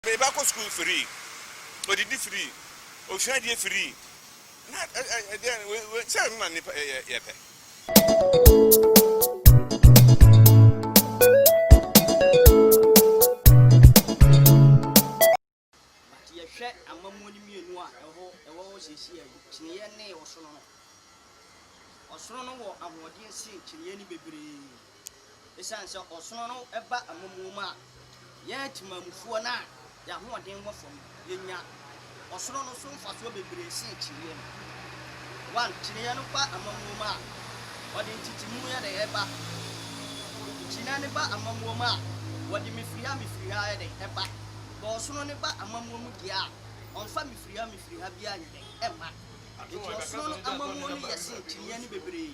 Me ba kɔ sukuu free, odidi free, osua adeɛ free, na ɛdeɛn wei sɛ ɛno na nipa yɛpɛ. But yɛhwɛ amammuo no mmienu a ɛwɔ ɛwɔ hɔ seesei yi, kyiniiɛ ne ɔsono no, ɔsono no wɔ ahoɔden sen kyiniiɛ no bebree. Esiane sɛ ɔsono no ba amamuo mu a, yɛn atemamufoɔ no a yɛn ahoɔden wɔ fam no, yɛnya ɔsono no so mfasoɔ bebree sen kyineɛ no. One, kyineɛ no ba amamuo mu a, wɔde ntetemuiɛ na ɛba. Kyineɛ no ba amamuo mu a, wɔde mefiriha mefiriha yɛ dɛn? Ɛba. But ɔsono no ba amamuo mu deɛ a, wɔmfa mefiriha mefiriha biara nyɛ dɛn? Ɛmma. Enti ɔsono no amamuo no yɛ sen kyineɛ no bebree.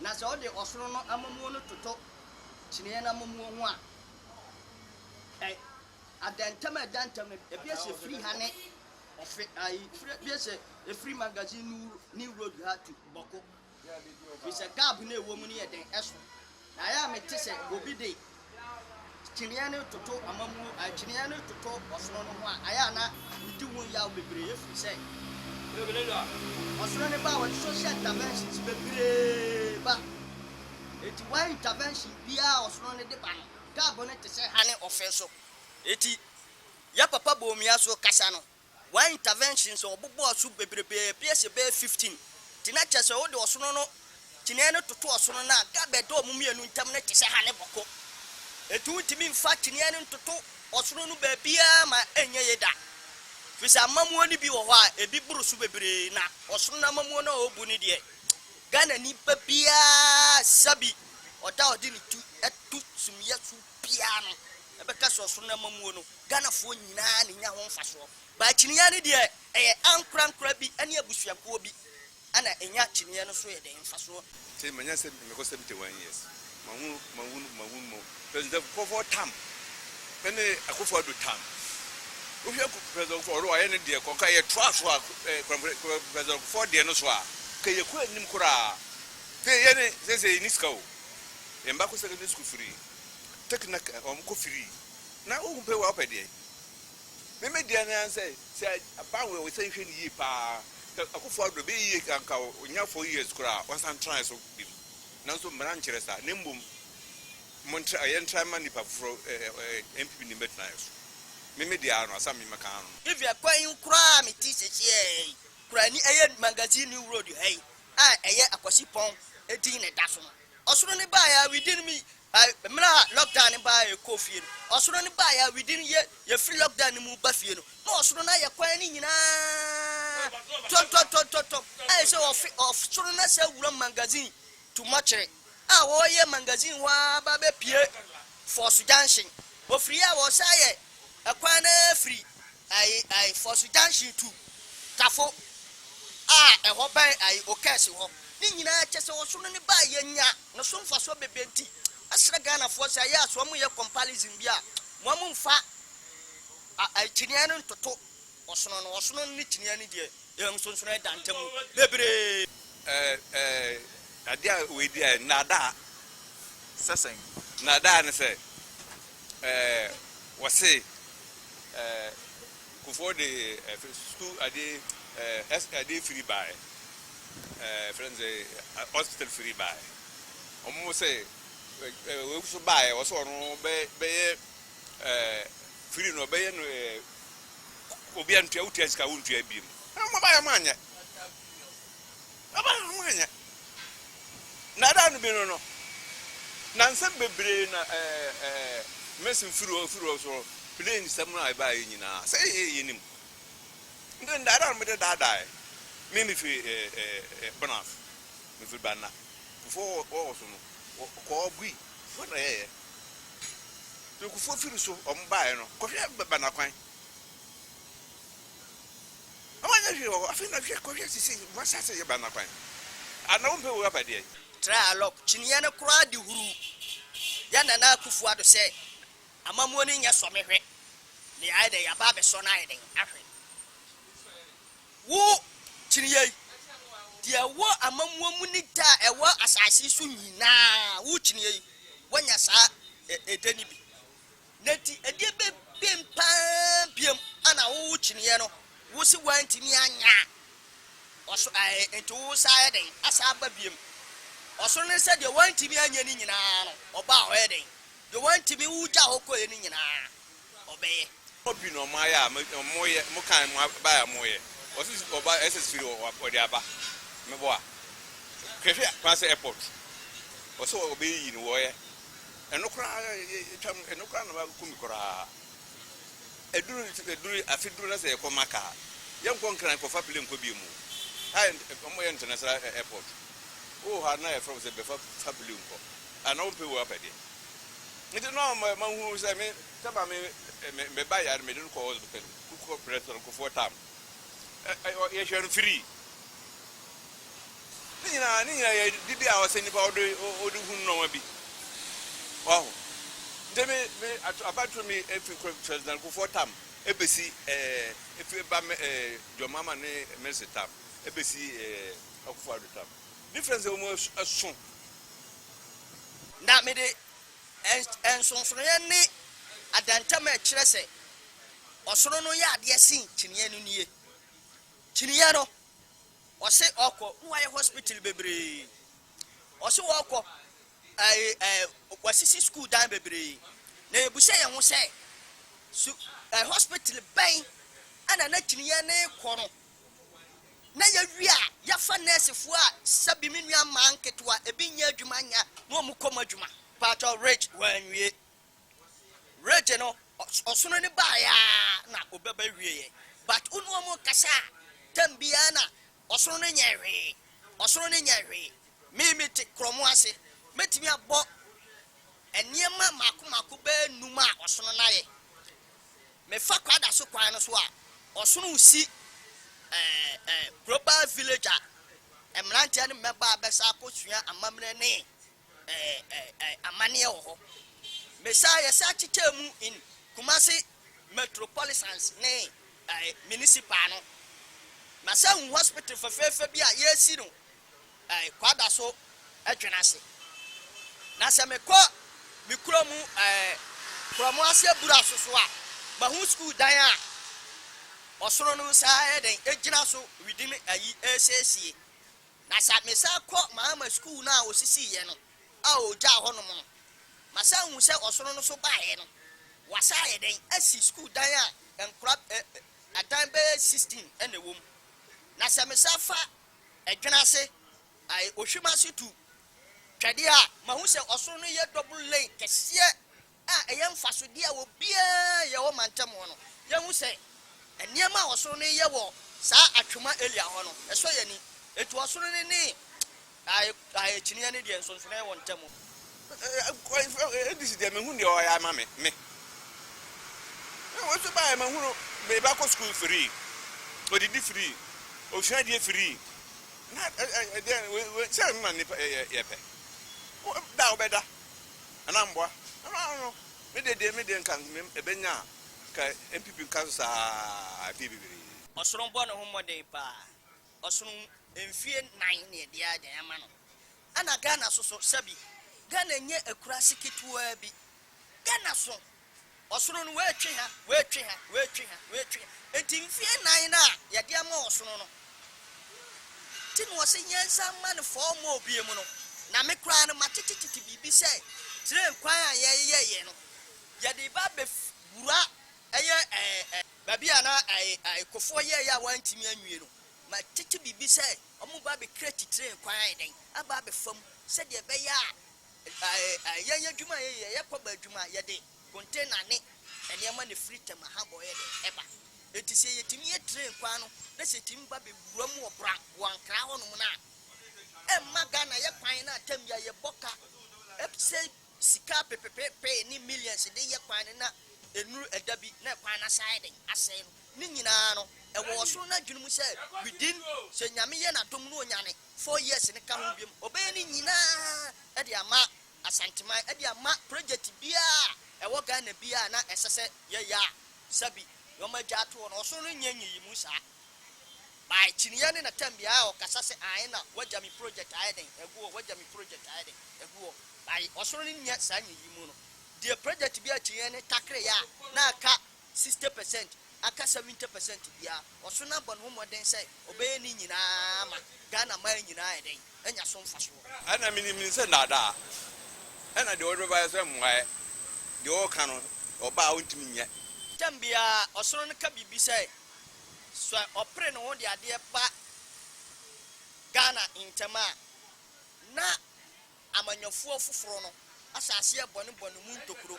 Na sɛ ɔde ɔsono no amammuo no toto kyiniiɛ no amammuo ho a, ɛ, adantam a ɛda ntam no, ebi esi efiri ha ne ɔfe, ayi, firi, ebi esi efiri Magazine New, New Road ha tu bɔko. Firi sɛ gap no a ɛwɔ mu no yɛ den, ɛso. Na ayɛ a mete sɛ obi de Kyiniiɛ no toto amammuo, kyiniiɛ no toto ɔsono no ho a, ɛyɛ a na medi ho yaw bebree ɛfiri sɛ ɔsono no ba a wɔde social interventions bebree ba. Enti one intervention biara a ɔsono no de ba no, taabo no te sɛ ha ne ɔfe so. Enti yɛ papa Bawumia so kasa no, Wɔayɛ interventions a wɔbobɔ ɔso bebrebe, ebies yɛ bɛyɛ 15, nti na kyerɛ sɛ wode ɔsono no kyiniiɛ no toto ɔsono no a, gap a ɛda wɔn mmienu ntam no te sɛ ha ne bɔko. Enti wontumi mfa kyiniiɛ no ntoto ɔsono no baabiara ma ɛnyɛ yie da, firi sɛ amammuo no bi wɔ hɔ a, ebi boro so bebree, na ɔsono no amammuo no a wɔbu no deɛ, Ghanani ba biara sa bi, ɔda a ɔde ne ti to sumiiɛ so biaa no ɛbɛka sɛ ɔsono n'amamuo no, Ghanafoɔ nyinaa na ɛnya ho mfasoɔ. But akyiniiɛ no deɛ ɛyɛ ankorankora bi ne abusuakuo bi na ɛnya akyiniiɛ no so yɛdɛn mfasoɔ. Sɛ manya sɛ mekɔ 71 years mahunu mahunu mahunu mo president nkorɔfoɔ tam ɛne akufo ado tam wohwɛ president nkorɔfoɔ ɔno wayɛ ne deɛ kɔ nka yɛ toa so a president nkorɔfoɔ deɛ no so a nka yɛkɔ anim koraa sɛ yɛne sɛ sɛ yɛni sika o Yɛn ba kɔ secondary school firi take na wɔn kɔ firii na wohu pɛ wa wopɛ deɛ me me deɛ naa sɛ sɛ aban wɔ sɛ nhwɛ ne yie paa sɛ akufo adɔ bɛyɛ yie kanka ɔnya four years koraa wɔsan tran so bim nanso mmara nkyerɛ saa na mmom mo ntra yɛn tran ma nipa foforɔ ɛɛ npp ne mbɛtena yɛ so me me deɛ ano asam me mɛka ano. Evia kwan yi koraa a mete sɛsɛɛ yi koraa ni ɛyɛ magazine new road ha yi a ɛyɛ akwasipɔn din na ɛda so no, ɔsoro no baeɛ a within me mmerɛ a lockdown no baeɛ a yɛkɔɔ fie no, ɔsoro no baeɛ a within yɛ yɛfiri lockdown no mu ba fie no, na ɔsoro no ayɛ kwan no nyinaa tɔntɔntɔntɔntɔm a ɛsɛ sɛ wɔfe ɔsoro no asɛ awura magazine to mortuary a wɔyɛ magazine hɔ ara ba bɛpue Force Junction, wɔfiri yɛ a wɔsan yɛ. Kwan no ara firi ayi ayi Fɔso junction to Kafo a ɛhɔ bɛn ayi Okɛɛse hɔ. Ne nyinaa kyɛ sɛ ɔsono ne ba a yɛnya no so mfasoɔ bebree nti mɛsrɛ Ghanafoɔ sɛ ɛyɛ a sɛ wɔn yɛ compalism bi a wɔn mfa ayi kyineɛ no ntoto ɔsono no. Ɔsono no ne kyineɛ no deɛ yɛn nsonsonoɛ da ntamu bebree. Eh eh adeɛ a wei deɛ nnaadaa sɛ sɛn? Nnaadaa ne sɛ. Ɛɛ wɔse ɛɛ Kufuor de ɛɛ sukuu ade ɛɛ S ade firi baeɛ, ɛɛ yɛfrɛ no sɛ hospital firi baeɛ. Wɔn se ɛɛ wei nso baeɛ wɔse ɔno bɛ bɛyɛ ɛɛ firi no ɔbɛyɛ no ɛɛ obi a ntua wotua sika a wontua bio. Ɛɛ wɔn baeɛ wɔn anyɛ. Aba a wɔanyɛ. Nnaadaa no bi no no, na nsɛm bebree na Mason firi hɔ firi hɔ so plane nsɛm a ɛbaeɛ nyinaa. Sɛ yɛyɛ a yɛnnim. Nti nnaadaa no mede daadaaɛ me mefiri Bonas, mefiri Banna Kufuor wɔ hɔ so no kɔɔ Gui Kufuor na yɛyɛ. Nti Kufuor firi so wɔn baeɛ no kɔhwɛ Banna kwan. Na wanyɛ hwee wɔ hɔ. Afei na hwɛ, kɔhwɛ sisei, wɔahyɛ ase reba no akwan. A na wompɛ wura pa deɛn? Tra Alok kyiniiɛ no koraa de huruu yɛn Nana Akufo Addo sɛ amammuo no nyɛ sɔ me hwɛ me ayɛ dɛn yɛaba abɛsɔ no ayɛ dɛn ahwɛ wo kyiniiɛ yi deɛ ɛwɔ amammuo mu ne dɛ a ɛwɔ asase so nyinaa wo kyiniiɛ yi woanya saa ɛdɛ no bi Na enti ɛdeɛ bɛ ben paa biam ana wo wo kyineɛ no wo se woantumi anyɛ a ɔso ɛɛ enti wo sa ayɛ dɛn asa aba biam ɔsoro no sɛ deɛ woantumi anyɛ no nyinaa no ɔbaa ɔyɛ dɛn deɛ woantumi wo gya hɔ kɔɛ no nyinaa ɔbɛyɛ. Ɔmɔ bi na ɔmɔ ayɛ a ɔmɔ yɛ ɔmɔ kan ɔmɔ aba a ɔmɔ yɛ ɔse ɔba ɛsɛ siri wɔ wɔ ɔde aba mɛbɔ a hwɛ hwɛ kumase airport ɔse ɔbɛyiyi no wɔyɛ. Ɛno koraa yɛtwa mu, ɛno koraa na waku me koraa. Ɛduru ɛduru afe duru na sɛ yɛkɔ Maka a, yɛnkɔ Nkran kɔfa plane nkɔ bio mu. Ha yɛ wɔyɛ international airport. Wowɔ hɔ a na yɛfrɛ wo sɛ bɛfa fa plane nkɔ. A na wompɛ wei wapɛ deɛ. Nti na ɔma mahunu sɛ me sɛ maame me ba yare mede no kɔ hospital kɔkɔ brɛ soronkofoɔ tam. Ɛ ɛ yɛhwɛ no free. Ne nyinaa ne nyinaa yɛ dibea a ɔsɛ nipa ɔde ɔde hunu nɔɔma bi. Waho? Nti me me ato abatoro me efi Charles Nankofoɔ tam ebesi ɛɛ efi ba me ɛɛ John Mahama ne Mercy tam ebesi ɛɛ Akufo Addo tam. Difference a wɔn ɛso. Na mede ɛn nsonsonoeɛ ne adantam a ɛkyerɛ sɛ ɔsono no yɛ adeɛ sen kyiniiɛ no nie. Kyiniiɛ no. Ɔse ɔkɔ na wayɛ hospital bebree ɔse ɔkɔ ɛɛ ɛɛ wasisi school dan bebree na yɛbisa yɛn ho sɛ su ɛɛ hospital bɛn ɛna na kyiniiɛ no rekɔ no na yɛwie a yɛfa nurse foɔ a sɛbi me nua mmaa nketewa ebi nyɛ adwuma nyɛ na wɔn kɔ mu adwuma. Paatɔ Rich wanwie. Regye no ɔsono no baeɛ aa na ɔbɛba wieɛ but wo ne wɔn rekasa a tam biara na ɔsono no nyɛ hwee ɔsono no nyɛ hwee me me te krɔmo ase mɛtumi abɔ nneɛma mmaako mmaako bɛyɛ num a ɔsono no ayɛ me fa kwada so kwan no so a ɔsono si ɛɛ ɛɛ global village a mmeranteɛ ne mmɛbaa bɛsa akɔsua amammerɛ ne eh, amaneɛ wɔ hɔ. Mesaa yɛsɛ akyekyɛɛ mu in Kumasi metropolisans ne eh, municipal no. Masa hu hospital fɛfɛɛfɛ bi a yɛresi no eh, kwada so adwene ase. Na sɛ mekɔ me kuro mu eh, Kurɔmo ase abura so so a, mahu school dan a ɔsono no saa ayɛ dɛn agyina so within ayi ɛresiesie. Na sɛ mesan kɔ Mahama sukuu no a osisiiɛ no a ɔgyaa hɔ nom no, masan hu sɛ ɔsono no so baeɛ no, wɔasan ayɛ dɛn asi sukuu dan a nkora ɛ ɛ adan bɛyɛ sixteen na ɛwɔ mu. Na sɛ mesan fa Ɛdwene ase ɛ ɛ Ohwim ase tu twɛdeɛ a, mahu sɛ ɔsono no yɛ double lane kɛseɛ a ɛyɛ mfasodeɛ a obiara yɛ wɔ mantam hɔ no, yɛhu sɛ nneɛma a ɔsoro no reyɛ wɔ saa atwema Elia hɔ no, ɛsɔ yɛn ani. Enti ɔsoro no ne akyinnyeɛ no deɛ, nsonsonoeɛ wɔ wɔn ntam. English deɛ menhu deɛ ɔyɛ ama me me wei so baeɛ mahunu me ba kɔ sukuu free ɔdidi free ɔsua adeɛ free na ɛdeɛ wei sɛ ma nnipa yɛ yɛpɛ da wobɛda Ana mboa ɛno ano no me deɛ deɛ me deɛ nka ɛbɛnya a nka NPP nka so saa mfie bebree. Ɔsono bɔ ne ho mmɔden paa ɔsono mfie nan ne ɛdeɛ adan ama no ɛna Ghana soso sɛbi Ghana nyɛ akurase ketewa bi Ghana so Ɔsono no, woetwe ha, woetwe ha, woetwe ha, woetwe ha. Ntsi mfe nan no a yɛdze ama ɔsono no ntsi na ɔsɛ yɛnsan ma no four more bio mu no, na me koraa no matsetsetete biribi sɛ train kwan a yɛyɛeɛ no, yɛdze reba abewura ɛyɛ ɛɛ ɛɛ baabi a na ɛɛ ɛɛ Kofoɔ yɛeɛ a wɔanntumi anwie no, matsetse biribi sɛ wɔreba abecreate train kwan ayɛ dɛn, aba abɛfa mu sɛdeɛ ɛbɛyɛ a. Yɛn adwuma a yɛyɛ, yɛyɛ kɔba adwuma, yɛde container ne nneɛma na ɛfiri Tema ha bɔ yɛ dɛn? ɛba. Enti sɛ yɛtumi yɛ train kwan no na sɛ ɛtumi ba bɛwura mu wɔ Bra, Boankra hɔ nom no a, ɛmma Ghana yɛ kwan no a tam biara yɛbɔ ka, ɛpsɛ sika pepepepee ne millions de yɛ kwan no na ɛnuru ɛda bi na kwan no asan ayɛ dɛn? asɛe no. Ne nyinaa no, ɛwɔ ɔsoro no adwene mu sɛ within, sɛ Nyame yɛ N'adom na ɔnyane, four years no ka ho biom ɔbɛyɛ ne nyinaa de ama Asanteman de ama project biara a ɛwɔ Ghana biara a na ɛsɛ sɛ yɛyɛ a sɛbi wɔn agya ato hɔ no ɔso no nyɛ nyiyimu saa by kyiniiɛ ne na tɛm biara ɔkasa sɛ ae na wagya me project ayɛ dɛn agu hɔ wagya me project ayɛ dɛn agu hɔ by ɔso no nyɛ saa nyiyimu no deɛ project biara kyiniiɛ ne takre yɛ a na aka sixty percent aka seventy percent biara ɔso na bɔ ne ho mmɔden sɛ ɔbɛyɛ ne nyinaa ama Ghana man nyinaa ayɛ dɛn? anya so mfasoɔ. Ɛna menim no sɛ nnaadaa. Ɛna deɛ ɔde bɛba yɛ sɛ mmuaɛ. Deɛ ɔreka no, ɔba a ɔntumi nyɛ. Tɛm biara ɔsono no ka biribi sɛ sɛ ɔpere ne ho de adeɛ ba Ghana ntɛm a, na Amanyɔfoɔ foforɔ no ahyɛ aseɛ bɔ ne bɔ ne mu ntokuro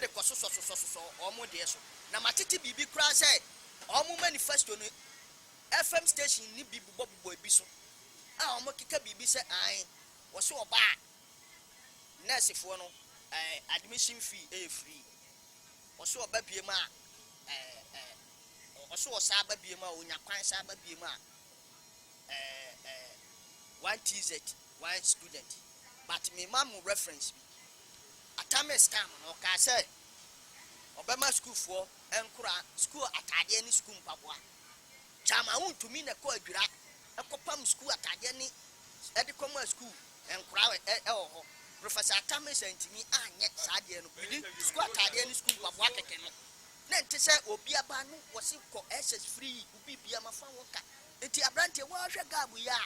de kɔ sosɔsosɔsosɔ wɔn deɛ so, na matete biribi koraa sɛ wɔn manifesto no FM station no bi bobɔbobɔ ebi so a wɔkeka biribi sɛ aane wɔse ɔbaa a nɛɛsefoɔ no ɛɛ admission fee yɛ free wɔse ɔba biem a ɛɛ ɛɛ wɔse ɔsan ba biem a ɔnya kwan san ba biem a eh eh one TZ one student but me ma mo reference bi Atamis time no ɔkaa sɛ ɔbɛma school foɔ nkora school ataadeɛ ne school mpaboa Kyaama wo ntumi na kɔ adwira kɔ pam school ataadeɛ ne ɛde kɔ ma school nkora ɛwɔ hɔ Professor Atamis antumi anyɛ saa adeɛ no within school ataadeɛ ne school mpaboa kɛkɛ no na ɛnte sɛ obi aba no wɔse kɔ SS free. Bibia ma fa ho ka. Enti abranteɛ woaa hwɛ garb yi a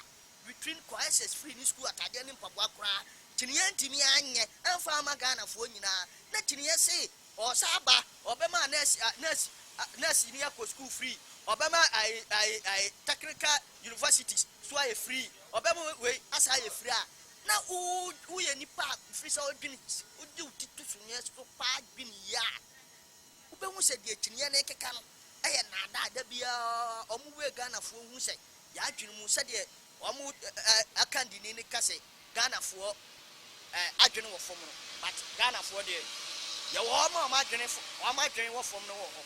between crisis free ne school ataadeɛ ne mpaboa koraa kyiniiɛ antimi anyɛ amfa amma Ghanafoɔ nyinaa na kyiniiɛ se ɔɔsa aba ɔbɛma nurse a nurse a nurse ni akɔ school free ɔbɛma ae ae ae technical universities so ayɛ free ɔbɛma wei asaa ayɛ free a na wo woyɛ nipa a firi sɛ wodwene wode wo ti to suneɛ so paa dwene yi a Wobɛhu sɛ deɛ kyiniiɛ no rekeka no yɛ nnaadaa, da biara wɔn wei Ghanafoɔ hu sɛ yɛn adwene mu sɛdeɛ wɔn akandini no ka sɛ Ghanafoɔ adwene wɔ fam no but Ghanafoɔ deɛ yɛwɔ wɔn a wɔn adwene wɔn adwene wɔ fam no wɔ hɔ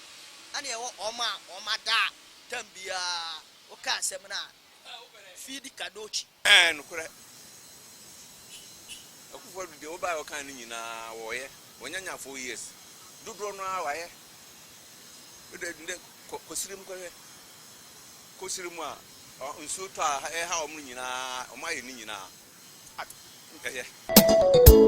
ɛna yɛwɔ wɔn a wɔn adaa tam biara woka asɛm no a feed kadokyi. Ɛɛ nokorɛ. Akuffo Addo deɛ wobaeɛ a wokaa no nyinaa wɔɔyɛ. Wɔanya nya four years. Dodoɔ no ara wayɛ. Wode ndɛ kɔ kɔsire mu kɔhwɛ. Kɔsire mu a nsuo tɔ a ɛha wɔn no nyinaa wɔn ayɛ ne nyinaa. At ɛyɛ.